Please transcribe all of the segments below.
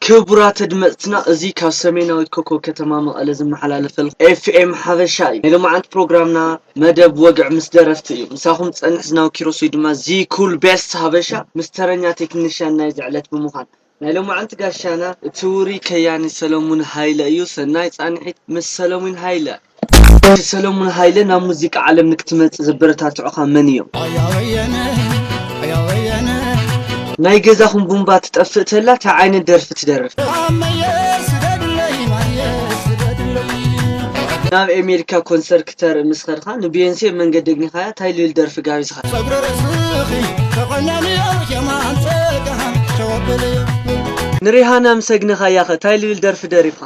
ክቡራት ኣድመጽትና እዚ ካብ ሰሜናዊት ኮኮብ ከተማ መቐለ ዝመሓላለፈልኩም ኤፍኤም ሓበሻ እዩ ናይ ሎማዓንቲ ፕሮግራምና መደብ ወግዒ ምስ ደረፍቲ እዩ ምሳኹም ዝጸንሕ ዝናቡ ኪሮስ ወይ ድማ ዚኩል ቤስት ሃበሻ ምስ ተረኛ ቴክኒሻን ናይዚ ዕለት ብምዃን ናይ ሎማዓንቲ ጋሻና እቲ ውሩይ ከያኒ ሰለሙን ሃይለ እዩ ሰናይ ጻንሒት ምስ ሰለሙን ሃይለ። ዶር ሰለሙን ሃይለ ናብ ሙዚቃ ዓለም ንክትመጽእ ዘበረታትዑኻ መን እዮም? ናይ ገዛኹም ቡምባ ትጠፍእ ተላ ታይ ዓይነት ደርፊ ትደርፍ? ናብ ኤሜሪካ ኮንሰር ክተርኢ ምስ ኸድኻ ንቢዮንሴ መንገዲ ኣግኒኻያ ታይ ልል ደርፊ ጋቢዝኻ? ንሪሃና ምስ ኣግነኻያኸ ታይ ልል ደርፊ ደሪፍኻ?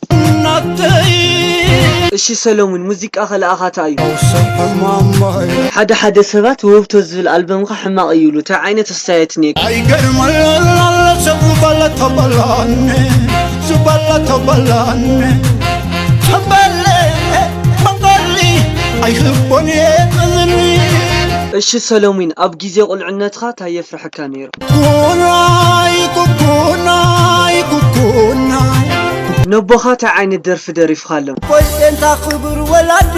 ናተይ እሺ ሰለሙን ሙዚቃኸ ልኣኻታ እዩ። ፈውሲ ሕማመይ ሓደ ሓደ ሰባት ውህብቶ ዝብል ኣልበምካ ሕማቕ እዩ ይብሉ ታይ ዓይነት ኣስተያየት እንሄካ? ኣይገርምን ኣሎ ሰብ ዝበለ ተበላኒ ዝበለ ተበላኒ ተበለ መንገሊ ኣይህቦን እየ እዝኒ እሺ ሰለሙን ኣብ ግዜ ቁልዕነትኻ ታይ የፍርሐካ ነይሩ? ነቦኻ ታይ ዓይነት ደርፊ ደሪፍኻሎም? ኣቦይ ጴንጣ ክቡር ወላዲ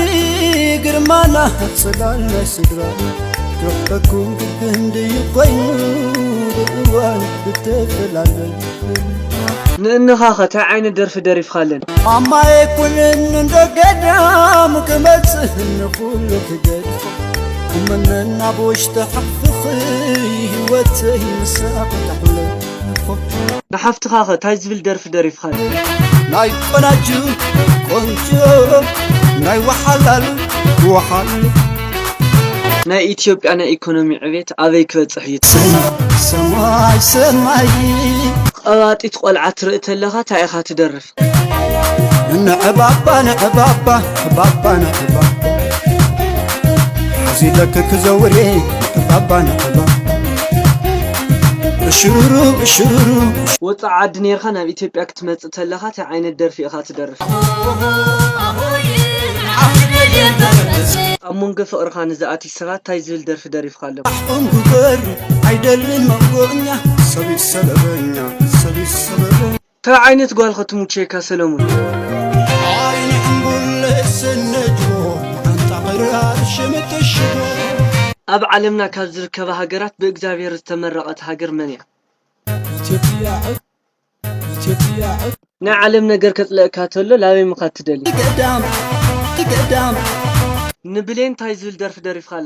ግርማና ጽላል ናይ ስድራ ክረኽበኩም ግቢ ህንድዩ ኮይኑ ብእዋን ብተፈላለዩ ንእንኻኸ ታይ ዓይነት ደርፊ ደሪፍኻለን? ማማየ ኩንን እንዶ ገዳም ክመጽእ ንኹሉ ክገድፍ እመነን ኣብ ውሽጢ ሓፍኺ ህይወተይ ምሳኣ ንሓፍትኻ ኸ እንታይ ዝብል ደርፊ ደሪፍኻ ናይ ቆናጁ ቆንጆ ናይ ወሓላሉ ወሓሉ ናይ ኢትዮጵያ ናይ ኢኮኖሚ ዕቤት ኣበይ ክበፅሕ እዩ ሰማይ ሰማይ ቐባጢት ቆልዓ ትርኢ ተለኻ እንታይ ኢኻ ትደርፍ ንዕባባ ንዕባባ ዕባባ ንዕባ እዚ ደክ ክዘውሬ ንዕባባ ንዕባ እሽሩሩ እሽሩሩ ወፃእ ዓዲ ነርካ ናብ ኢትዮጵያ ክትመፅእ ተለካ ታይ ዓይነት ደርፊ ኢካ ትደርፍ ኣብ መንጎ ፍቅርካ ንዝኣቲ ሰባት ታይ ዝብል ደርፊ ደሪፍካ ኣለካ ኣሕቆም ክበሩ ኣይደልን መንጎኛ ሰብ ይሰበበኛ ሰብ ይሰበበኛ ታይ ዓይነት ጓል ኸትሙቼካ ሰለሙን። ዓይኒ ሕንቡል ስንጭዎ መዓንጣ ክራር ሽምጥ እሽቦ። ኣብ ዓለምና ካብ ዝርከባ ሃገራት ብእግዛብሄር ዝተመረቐት ሃገር መን እያ? ኢትዮጵያ ዕፍ ኢትዮጵያ ዕፍ። ናይ ዓለም ነገር ከጽልኣካ ተሎ ላበይ ምካድ ትደሊ? ገዳም ገዳም። ንብሌን ታይ ዝብል ደርፊ ደሪፍካላ?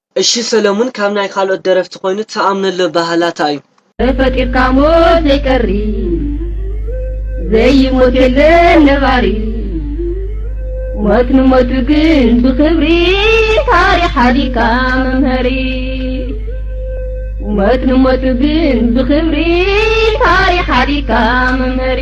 እሺ ሰለሙን ካብ ናይ ካልኦት ደረፍቲ ኮይኑ ትኣምነሉ ባህላት ኣዩ። ተፈጢርካ ሞት ዘይቀሪ ዘይሞት የለን ነባሪ ሞት ንሞቱ ግን ብክብሪ ታሪክ ሓዲርካ መምሀሪ ሞት ንሞቱ ግን ብክብሪ ታሪክ ሓዲርካ መምሀሪ